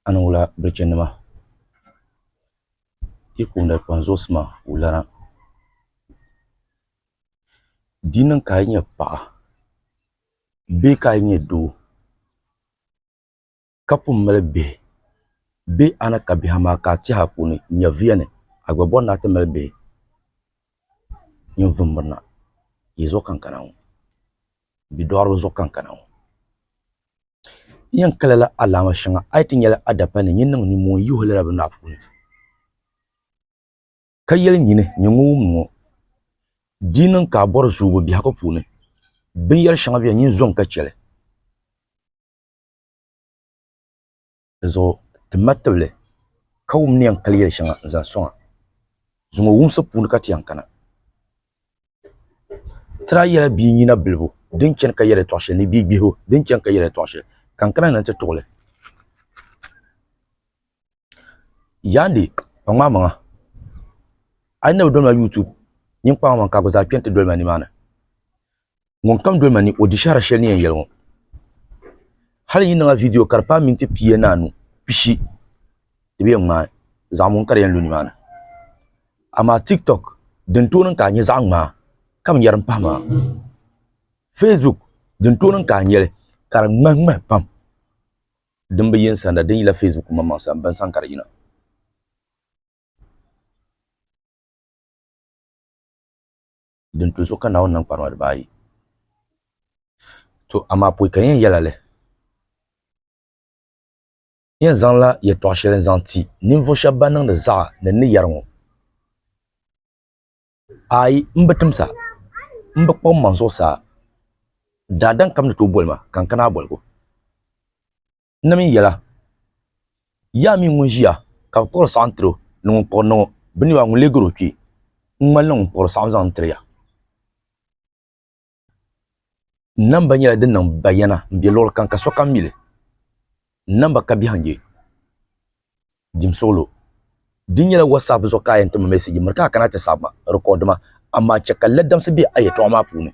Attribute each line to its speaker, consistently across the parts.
Speaker 1: a ni wula birichinima yi kunda kpaŋ zuɣusi maa wulana di yi niŋ ka a yi nyɛ paɣa bee ka a yi nyɛ doo ka pun mali bihi bee a ni ka bihi amaa ka a tɛha puuni nyɛviya ni a gba bɔri ni a ti mali bihi ninvuɣ mirina yi zuɣukankana ŋɔ bidɔɣiriba zuɣukankana ŋɔ N yɛn kala la alaama shɛŋa a yi ti nyɛla a dapal ni n-yi niŋ nimmoo n-yihi o lala bini maa puuni, ka yɛli nyini, nyɛ ŋun wumdi ŋɔ. Di yi niŋ ka a bɔri zoobu biɛhigu puuni, binyɛr shɛŋa beni nyin zɔŋ ka chɛ li. Dinzuɣu ti ma tibili, ka wum ni yɛn kali yɛli shɛŋa n-zaŋ sɔŋ a zuŋɔ wumsi puuni ka ti yɛn kana. Ti daa yɛla bia nyina bilibu din chani ka yɛli tɔɣ shɛli ni bia gbihibu din chani ka yɛli tɔɣ shɛli, ka n kana ni n ti tuɣi li. Yaandi kpaŋ ma amaŋa, a yi na bi doli ma YouTube, nyin kpaŋ amaŋ ka a gba zaa kpɛni ti doli ma nimaani. ŋun kam doli ma ni o di shɛhira shɛli ni yɛn yɛli ŋɔ hali yi niŋa vidiyo ka di paai minti pia ni anu pishi di bi yɛn ŋmaai zaɣ ŋun ka di yɛn lu nimaani amaa tiktok din tooi niŋ ka a nyɛ zaɣ ŋmaa ka binyɛra n pahi maa facebook din tooi niŋ ka a nyɛli ka di ŋmahi ŋmahi pam din bi yini sanda din yila facebook maŋmaŋ sani bini sani ka di yina din tu so ka Naawuni niŋ kparima dibaa ayi. To amaa pɔi ka yɛn yɛla li. Yɛn zaŋla yɛtɔɣ shɛli n-zaŋ ti ninvuɣ shɛb bɛn niŋdi zaɣa ni n ni yɛri ŋɔ. Aai, m bi timsa, m bi kpuɣ mmaŋ zuɣusaa, daadam kam ni tooi boli ma ka n kana a boligu. Nim n yɛla, Yaa mi ŋun ʒiya ka bi kpuɣiri saɣim tiri o, ni ŋun kpuɣiri niŋ o, bɛ ni yɛba ŋun leei gari o kpe n ŋmani ni ŋun kpuɣiri saɣim zaŋ n-tiri ya. Namba nyɛla din niŋ bayana m be luɣili kam ka sokam mi li. Namba ka biɛhiŋ n-nyɛ jim suɣilo. Di nyɛla WhatsApp zuɣu ka a yɛn ti ma message miri ka a kana ti saɣi ma, record ma, amaa chɛ ka ladamsi be a yɛltɔɣa maa puuni.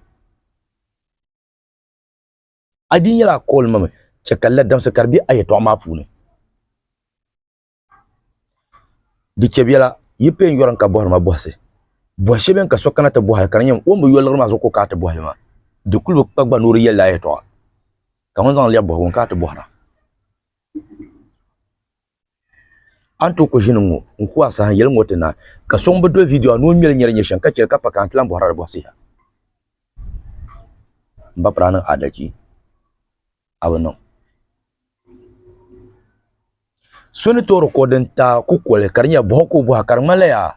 Speaker 1: A di nyɛla a kooli ma mi chɛ ka n la damsi ka di be a yɛtɔɣa maa puuni. Di chɛ biɛla, yi pee n-yɔri n ka bɔhiri ma bɔhisi. Bɔhi shɛb beni ka so kana ti bɔhi li ka di nyɛ o ni bi yo liɣiri maa zuɣu ka o kana ti bɔhi li maa? Di kul bi kpa gba ni o di yɛli li a yɛtɔɣa, ka ŋun zaŋ li lɛbi bɔhigu n-kana ti bɔhira. a ni tooi kuli ʒini ŋɔ n ku a saha n yɛli ŋɔ ti na ka so ŋun bi doli viidiyo a ni o ŋmɛli nyɛri nyɛ shɛm ka chɛli ka pa ka a ni ti lahi bɔhirila di bɔhisiha m ba piri a niŋ adalchi a bi niŋ so ni tooi rikɔdi n ta ku koli ka di nyɛla bɔha ka o bɔha ka di ŋmanila yaa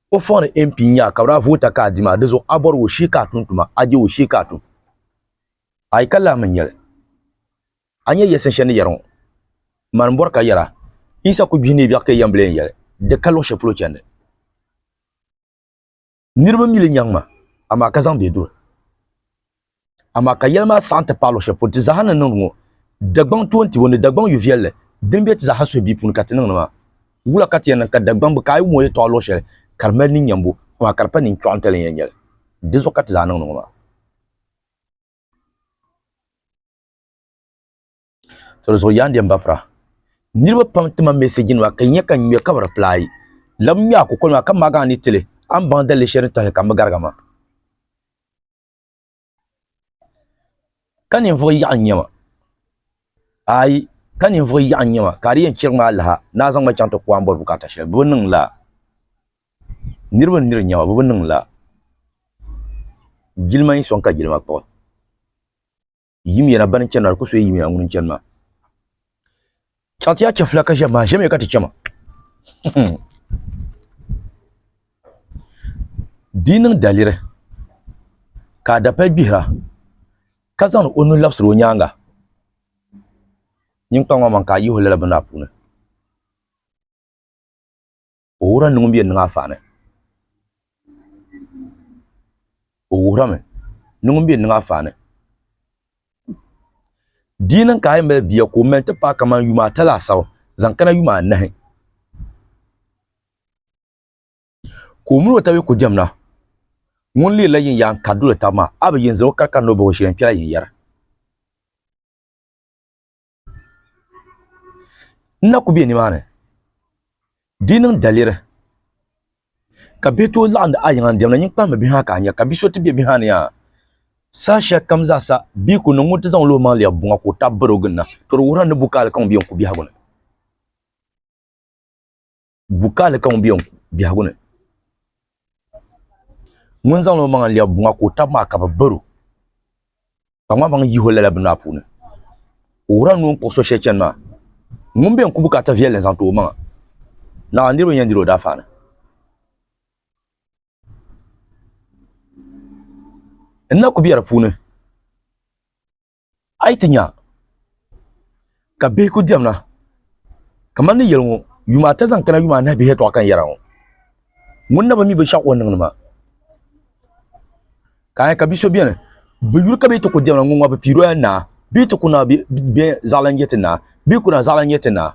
Speaker 1: o fɔŋ ni mp n nyɛ a ka bi daa voota ka a di maa di zuɣu a bɔri o shee ka a tum tuma a je o shee ka a tum a yi ka lahi mi nyɛli A nyɛ yɛlisin shɛli ni yɛri ŋɔ, Mani m-bɔri ka yɛra, Yisa ku gbihi ni yi biɛɣu ka yi yɛn bi lee yɛli, Di ka luɣ shɛli polo chandi. Niriba mi li nyaŋ ma, amaa ka zaŋ bɛ duri. Amaa ka yɛli maa saɣim ti paai luɣ shɛli polo ti zaaha ni niŋdi ŋɔ, Dagbaŋ toontibu ni Dagbaŋ yu viɛlli din be ti zaaha suhibia puuni ka ti niŋdi maa. Wula ka ti yɛn niŋ ka Dagbaŋ bi kaai wuŋ o yɛtɔɣa luɣ shɛli ka di mali ninnyambu, amaa ka di pa ninchɔɣu n-ti lan yɛn nyɛli? Dinzuɣu ka ti zaa niŋdi ŋɔ maa. to zuɣu yaa ndɛm bapira niriba pam tima mɛsɛji nima ka nyɛ ka ŋmɛ ka bi reply lam ŋmɛ a kukoli maa ka maagi a ni tili a ni baŋ dalili shɛli ni tɔhili ka n bi gariga maa ka ninvuɣ yaɣu n-nyɛ ma ayi ka ninvuɣ yaɣu n-nyɛ ma ka a di yɛn chirigi ma alaha ni a zaŋ ma chaŋ ti ku a ni bɔri bukaata shɛli bɛ bi niŋ lala niriba n niri n-nyɛ ma bɛ bi niŋ lala jilima yi sɔŋ ka jilima kpuɣi yimiya ban chɛnima di ku soya yimiya ŋuni n-chani maa chaŋ ti yaa chɛfula ka ʒiɛm maa ʒiɛmiya ka ti chɛma di yi niŋ daliri ka a dapali gbihira ka zaŋdi o nuhi labisiri o nyaanga nyin kpaŋ maa man ka a yihi o lala bini maa puuni O wuhirila ni ŋun bɛ niŋ afaani. O wuhirimi ni ŋun bɛ niŋ afaani. Di yi niŋ ka a yi mali bia ka o mali nti paai kaman yuma ata laasabu zaŋ kana yuma anahi ka o mini o tabi ku diɛm na, ŋun leerila yin yaan kari doli taba maa, a bi yen zaŋ o kari ka ni o bahi o shili n-kpɛla yin yɛri? n na ku bɛ nimaani di niŋ daliri ka bihi tooi laɣandi a yiŋa n diɛmda nyin kpahimmi bihi ha ka a nya ka bia so ti bɛ bihi ha ni yaa saha shɛli kam zaa sa bia ku niŋ ŋun ti zaŋ lo maŋ lɛbi buŋa ka o tabi bari o ginda to di wuhirila ni bukaali kaŋ bɛ yɛn ku biɛhigu ni Bukali ka ŋun bɛ yɛn biɛhigu ni ŋun zaŋla o maŋa n lɛbi buŋa ka o tabi maa ka bi baro ka ŋmaa maŋ yihi o lala bini maa puuni o wuhura ni o ni kpuɣi so shɛli chɛni maa ŋun bɛ yɛn ku bukaata viɛlli n zaŋ ti o maŋa naɣa niraba yɛn diri o daafaani n na ku bɛ di puuni A yi ti nya ka bihi ku diɛmna kamani ni yɛli ŋɔ, yuma ata zaŋ kana yuma anahi bihi yɛtɔɣa ka n yɛra ŋɔ. Ŋuni na bi mi binshɛɣu o ni niŋdi maa? Ka a nya ka bi so beni, bi yuri ka bee ti ku diɛmna, ŋun ŋɔ bi piiri o ya naa, bee ti ku naai bee zaɣilana n-nyɛ ti naa, bee ku naai zaɣilana n-nyɛ ti naa.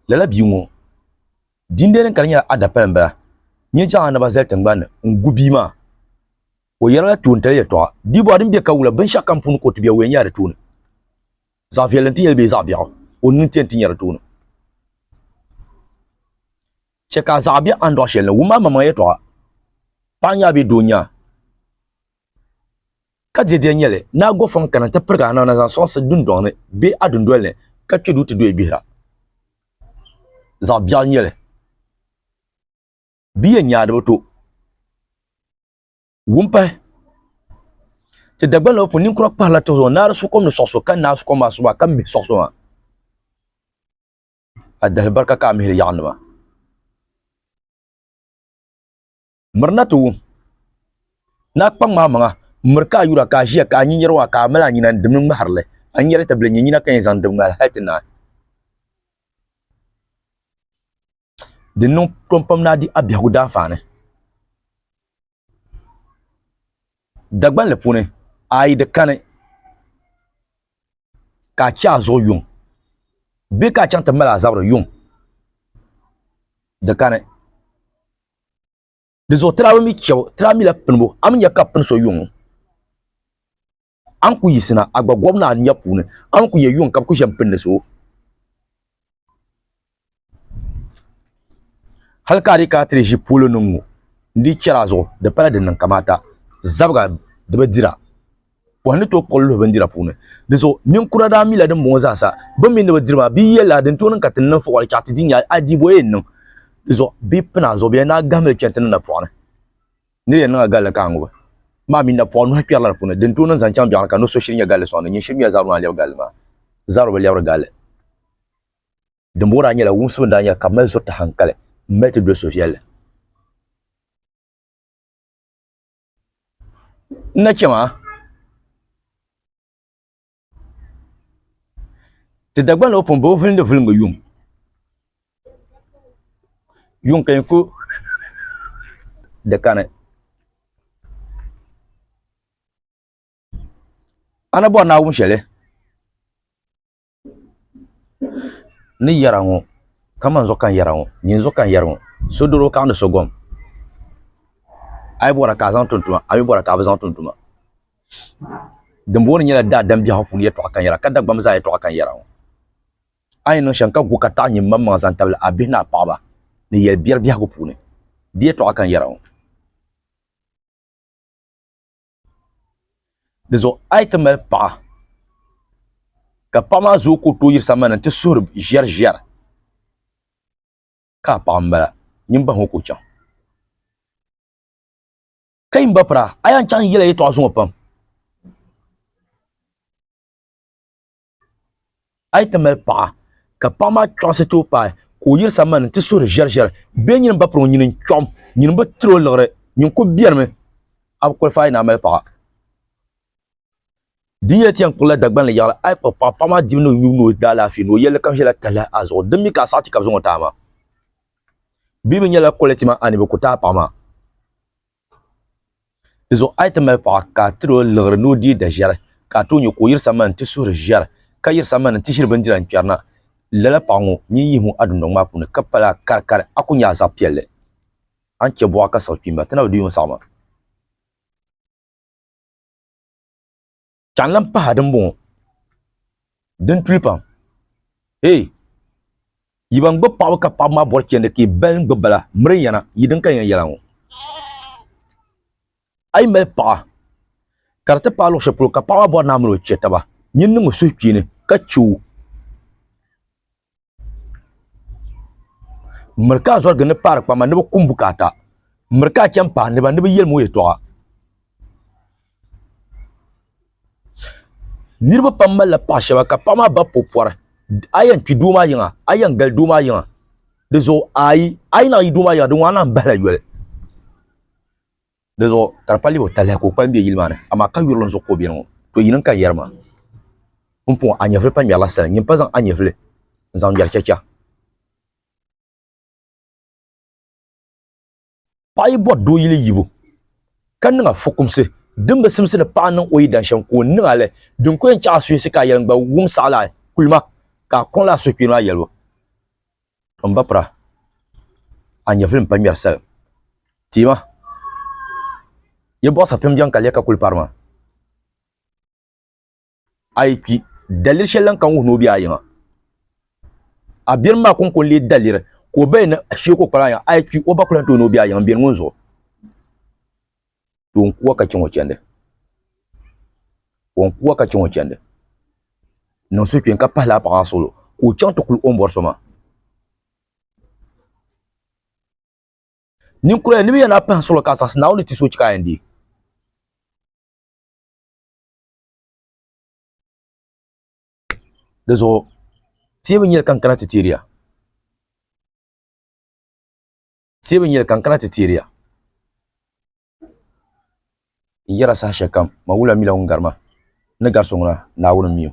Speaker 1: Lala bia ŋɔ din be din kani nyɛla adapali m bala nyɛ jaŋa ni ba zali tingbanni n gu bia maa o yerila toontali yeltɔɣa bia bɔra din be ka wula binshaɣu kam puuni ka o ti be o yen nyɛla di tooni zaɣa viɛlli n ti nyeli bee zaɣa biaɣu o nini ti yen ti nyɛ di tooni che ka zaɣa be andoɣu sheli ni wummi a maŋmaŋa yeltɔɣa paɣa n nya bee doo n nya. ka diedia nyɛ li ni a gɔfɔŋ kana nti pirigi anaana zaŋ sɔŋsi dundɔŋ ni bee a dundoli ni ka kpe duu ti dɔyi gbihira. Zaɣ biɛɣu nyɛ li. Bɛ yɛn nyaadiba to wum pahi. Ti Dagbaŋ lɔba puuni ninkura kpahirila tihi zuɣu naari sukom ni sɔɣi so ka naai sukom maa suba ka mihi sɔɣi so maa. A dahili barika ka a mihiri yaɣinima. Mirina ti wum ni a kpaŋ maa maŋa, miri ka a yura ka a ʒiya ka a nya niriba maa ka a mali a nyina n-dimdi ŋmahiri li. A nyari ti bili n-nya nyina ka yɛn zaŋ dimdi ŋmahiri hal ti naai. Di ni niŋ tom pam ni a di a biɛhigu daanfaani. Dagbanli puuni, a yi di kani ka a chɛ a zuɣu yuŋ bee ka a chaŋ ti mali a zabiri yuŋ, di kani. di zuɣu tirabi mi chɛbu tirabi mi la pinibu a mi nya ka pini so yuŋ a ni ku yiɣisina a gba gɔbu ni a nya puuni a ni ku yɛ yuŋ ka bi ku ʒɛ n pindi so hali ka a di kana ti di ʒi polo ni ŋɔ n di chɛri a zuɣu di pala din niŋ kamaata zabiga di bi dira o ni to kɔli luhi bindira puuni di so ninkura daa mila din bɔŋɔ zaasa bin mi ni bi diri maa bia yɛli la din tooni ka ti niŋ fuɣili chaɣa ti di nya a diibo yɛn niŋ di so bi pina zuɣu bɛ yɛn daa gahimili kpɛri ti ni na pɔɣini ni yɛn niŋa galli ka a ŋubi maa mi na pɔɣi nuhi kpɛrila di puuni din tooni n zaŋ chaŋ biɛɣuni ka ni so shiri nyɛ galli sɔŋdi nyin shiri miya zabiri maa lɛbi galli maa zabiri bi lɛbiri galli dimbɔŋɔ daa nyɛla wumsibu daa nyɛla ka mali zuriti hankali m mali ti doli so viɛlli n na chɛ maa ti Dagbani o pun boo vilindi vilingi yuŋ yuŋ ka yɛn ku di kani a ni bɔri Naawuni shɛli ni yɛra ŋɔ kamani zuɣu ka n yɛra ŋɔ nyin zuɣu ka n yɛra ŋɔ so doro ka niŋdi so gom a yi bɔra ka a zaŋ tum tuma a mii bɔra ka a bi zaŋ tum tuma dinbɔŋɔ ni nyɛla daadam biɛhaɣu puuni yɛltɔɣa ka n yɛra ka Dagbamb zaa yɛltɔɣa ka n yɛra ŋɔ a yi niŋ shɛm ka gu ka taɣi nyimmaŋmaŋ zaŋ tabili a bihi ni a paɣaba ni yɛli biɛri biɛhagu puuni di yɛltɔɣa ka n yɛra ŋɔ di zuɣu a yi ti mali paɣa ka paɣa maa zooi ka o tooi yiri sambani n ti suhuri ʒɛri ʒɛri ka a paɣa n bala nyin bahi ŋɔ ka o chaŋ ka yi ba pira a yɛn chaŋ yɛla yɛltɔɣa zuŋɔ pam a yi ti mali paɣa ka paɣa maa chɔɣisi ti o paai ka o yiri sambani nti suhiri ʒɛriʒɛri bee nyini ba piri o nyini n-chɔɣim nyini bi tiri o liɣiri nyini kul bɛrimi a bi kɔlifaai ni a mali paɣa di nyɛla ti yɛn kpuɣila Dagban li yaɣili a yi kpuɣi paɣa paɣa maa dibu ni o yubu ni o daalaafee ni o yɛlli kam ʒɛla tahili a zuɣu din mi ka a saɣi ti ka bi zaŋ o ti a maa bee bi nyɛla kɔliti maa a ni bi ku ti a paɣa maa Di zuɣu a yi ti mali paɣa ka a tiri o liɣiri ni o deei daʒɛri ka a tooi nya ka o yiri sambani nti suhiri ʒiɛri ka yiri sambani nti ʒiri bindira n-kpɛri na, lala paɣa ŋɔ nyin yihi ŋɔ a dundɔŋ maa puuni ka pali a karikari a ku nya a zaɣ piɛlli. A ni chɛ buɣa ka siɣi kpimba ti na bi di yuun saɣima. ka n lahi pahi din bɔŋɔ din tuli pam ee yi ban gbubi paɣaba ka paɣaba maa bɔri chɛndi ka yi bali gbubi bala miri yɛna yi din ka yɛn yɛla ŋɔ a yi mali paɣa ka di ti paai luɣu shɛli polo ka paɣa maa bɔri naa mini o chɛ taba nyin niŋ o suhupiini ka chɛ o miri ka zɔrigi ni paari kpama ni bi kum bukaata miri ka chɛn pahi niba ni bi yɛli mo yɛltɔɣa niriba pam malila paɣa shɛba ka paɣa maa ba po pɔri a yɛn kpi doo maa yiŋa a yɛn gali doo maa yiŋa di zuɣu ayi a yi naɣ yi doo maa yiŋa di ŋɔ a nahi bahila yoli Di zuɣu ka di paligi o taliha ka o kpalim be yili maa ni, amaa ka yurilim zuɣu ka o beni ŋɔ. To yini n-ka yɛri maa? Pumpɔŋɔ, a nyɛvili pa ŋmɛrila sali. Nyin pa zaŋ a nyɛvili n-zaŋ ŋmɛri chɛcha. Paɣa yi bɔri doo yili yibu, ka niŋ a fukumsi din bi simsi ni paɣa niŋ o yidana shɛm ka o niŋ a li, din ku yɛn chaɣ a suhisi ka a yɛli n-gba wum saɣila a kulima ka a kɔŋla a suhukpeeni maa yɛlibu. M ba pura, a nyɛvuli m-pa ŋmɛri sal. Ti ma, yi bɔɣu sapim jɛŋ ka lɛ ka kuli pari ma. A yi kpi, daliri shɛli lan kan wuhi ni o be a yiŋa. A biɛrim maa kɔŋko n-lee daliri ka o baya ni a shee ka o kpali a yiŋa. A yi kpi, o ba ku lan tooi ni o be a yiŋa m-beni ŋun zuɣu. to n kuwa ka chɛ ŋɔ chɛndi o n kuwa ka chɛ ŋɔ chɛndi niŋ so kpɛ ka pahi laa paɣa maa solo ka o chaŋ ti kuli o ni bɔri so maa ninkura ni bi yɛn lahi pahi solo ka zaŋsi naawuni ti so chɛ ka a yɛn deei di zuɣu teebu nyɛli ka n kana ti teeri ya Teei bi nyɛli ka n kana ti teeri ya. N yɛra saha shɛlikam, Mawula mila ŋun gari ma, ni gari so ŋuna, Naawuni m-mi o.